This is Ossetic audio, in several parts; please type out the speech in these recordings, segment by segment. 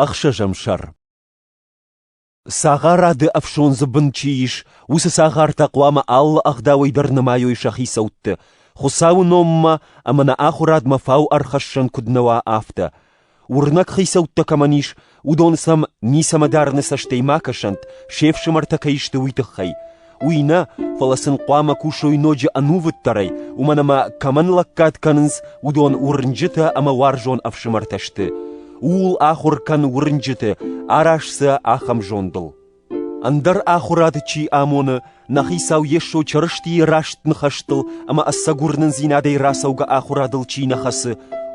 Ӕхсӕзӕм сӕр Цагъарады ӕфсондзы бын чи ис, уыцы цагъартӕ хъуамӕ алы ӕгъдауӕй дӕр нымайой сӕ хицӕутты, Хуыцауы номмӕ ӕмӕ нӕ ахуырадмӕ фау ӕрхӕссӕн куыд нӕ уа, афтӕ. Уырнӕг хицӕуттӕ кӕмӕн ис, уыдон сӕм ницӕмӕ дарыны цӕстӕй ма кӕсӕнт, се фсымӕртӕ кӕй сты, уый тыххӕй. Уый нӕ, фӕлӕ сын хъуамӕ кусой ноджы ӕнувыддӕрӕй, уымӕн ӕмӕ кӕмӕн лӕггад кӕнынц, уыдон уырнджытӕ ӕмӕ уарзон ӕфсымӕртӕ сты. Ууыл ахуыр кӕн уырнджыты, араз сӕ ахӕм зондыл. Ӕндӕр ахуырад чи амоны, нӕ Хицау Йесо Чырыстийы раст ныхӕстыл ӕмӕ ӕцӕгуырнындзинадӕй рацӕугӕ ахуырадыл чи нӕ хӕцы,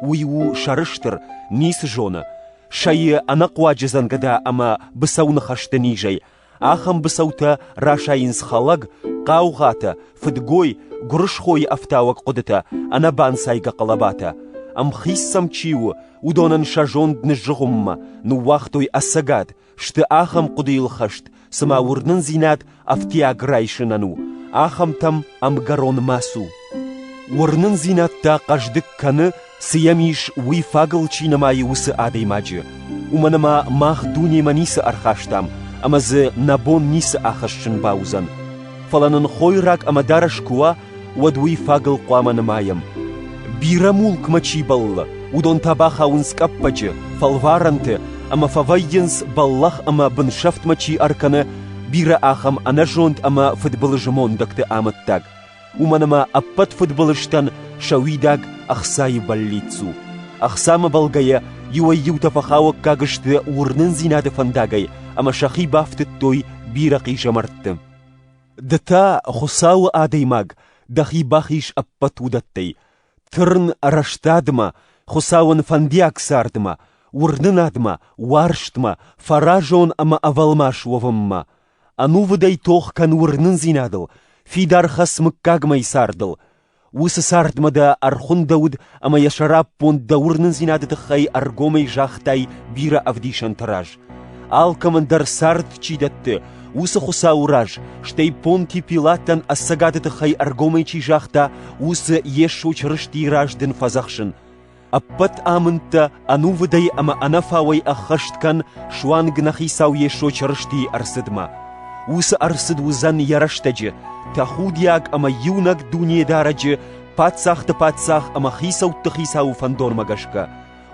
уый у сӕрыстыр, ницы зоны, сайы ӕнӕхъуаджы дзӕнгӕда ӕмӕ быцӕуныхӕсты низӕй, Ахӕм быцӕутӕ расайынц хӕлӕг, хъаугъатӕ, фыдгой, гуырысхойы ӕфтауӕг хъуыдытӕ, ӕнӕбанцайгӕ хъӕлӕбатӕ. Ӕмхиц сӕм чи у, уыдонӕн сӕ зонд ныззыгъуыммӕ, ныууагътой ӕцӕгад, сты ахӕм хъуыдыйыл хӕст, цыма уырнындзинад ӕфтиаг райсынӕн у, ахӕмтӕм ӕмгӕрон ма цу. Уырнындзинад та хъӕздыг кӕны Цы йӕм ис, уый фагыл чи нымайы, уыцы адӕймаджы. Уымӕн ӕмӕ мах дунемӕ ницы ӕрхастам, ӕмӕ дзы нӕ бон ницы ахӕссын бауыдзӕн. Фӕлӕ нын хойраг ӕмӕ дарӕс куы уа, уӕд уый фагыл хъуамӕ нымайӕм. Бирӕ мулкмӕ чи бӕллы, уыдон та бахауынц къӕппӕджы, фӕлварӕнты ӕмӕ фӕвӕййынц бӕллӕх ӕмӕ бынсӕфтмӕ чи ӕркӕны, бирӕ ахӕм ӕнӕзонд ӕмӕ фыдбылызы мондӕгты амӕттаг, уымӕн ӕмӕ ӕппӕт фыдбылызтӕн сӕ уидаг ӕхцайы бӕллиц у. Ӕхцамӕ бӕлгӕ йӕ иуӕй-иутӕ фӕхауӕггаг сты уырнындзинады фӕндагӕй ӕмӕ сӕхи бафтыдтой бирӕ хъизӕмӕртты. Ды та, Хуыцауы адӕймаг, дӕхи бахиз ӕппӕт уыдӕттӕй. Тырн рӕстадмӕ, Хуыцауӕн фӕндиаг цардмӕ, уырнынадмӕ, уарзтмӕ, фӕразон ӕмӕ ӕвӕлмас уӕвынмӕ. ӕнувыдӕй тох кӕн уырнындзинадыл, фидар хӕц мыггагмӕйы цардыл. Уыцы цардмӕ дӕ ӕрхуындӕуыд ӕмӕ йӕ сӕраппонд дӕ уырнындзинады тыххӕй ӕргомӕй загътай бирӕ ӕвдисӕнты раз. Алкӕмӕн дӕр цард чи дӕтты, уыцы Хуыцауы раз, стӕй Понти Пилатӕн ӕцӕгады тыххӕй ӕргомӕй чи загъта, уыцы Йесо Чырыстийы раз дын фӕдзӕхсын. Ӕппӕт амындтӕ ӕнувыдӕй ӕмӕ ӕнӕфауӕй ӕххӕст кӕн суанг нӕ Хицау Йесо Чырыстийы ӕрцыдмӕ. Уыцы ӕрцыд уыдзӕн йӕ рӕстӕджы тӕхудиаг ӕмӕ иунӕг Дунедарӕджы Паддзахты Паддзах ӕмӕ Хицӕутты Хицауы фӕндонмӕ гӕсгӕ.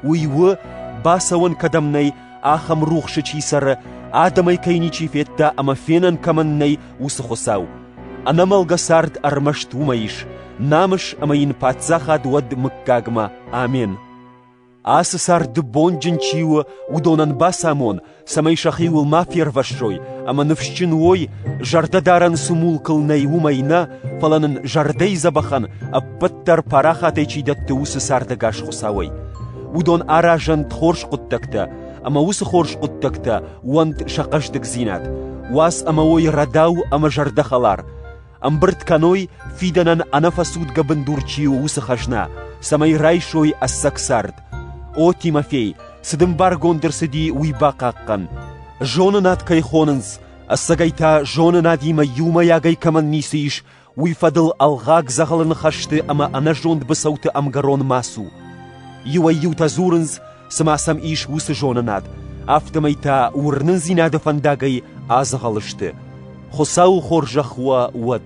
Уый у, бацӕуӕн кӕдӕм нӕй, Ахӕм рухсы чи цӕры, адӕмӕй кӕй ничи федта ӕмӕ фенӕн кӕмӕн нӕй, уыцы Хуыцау. Ӕнӕмӕлгӕ цард ӕрмӕст уымӕ ис, намыс ӕмӕ йын паддзахад уӕд мыггагмӕ. Амен! Ацы царды бонджын чи у, уыдонӕн бацамон, цӕмӕй сӕхиуыл ма фервӕссой, ӕмӕ ныфсджын уой, зӕрдӕдарӕн цы мулкыл нӕй, уымӕй нӕ, фӕлӕ нын зӕрдӕйы дзӕбӕхӕн ӕппӕт дӕр парахатӕй чи дӕтты, уыцы цардӕгас Хуыцауӕй. уыдон аразӕнт хорз хъуыддӕгтӕ, ӕмӕ уыцы хорз хъуыддӕгтӕ уӕнт сӕ хъӕздыгдзинад, уац ӕмӕ уой рӕдау ӕмӕ зӕрдӕхӕлар, ӕмбырд кӕной, фидӕнӕн ӕнӕфӕцудгӕ бындур чи у, уыцы хӕзна, цӕмӕй райсой ӕцӕг цард. О, Тимофей, цы дын баргонд ӕрцыди, уый бахъахъхъӕн. Зонынад кӕй хонынц, ӕцӕгӕй та зонынадимӕ иумӕйагӕй кӕмӕн ницы ис, Уый фӕдыл ӕлгъаг дзӕгъӕлы ныхӕсты ӕмӕ ӕнӕзонд быцӕуты ӕмгӕрон ма цу. Иуӕй-иутӕ дзурынц, цыма сӕм ис уыцы зонынад, афтӕмӕй та уырнындзинады фӕндагӕй адзӕгъӕл сты. Хуыцау хорзӕх уӕ уӕд!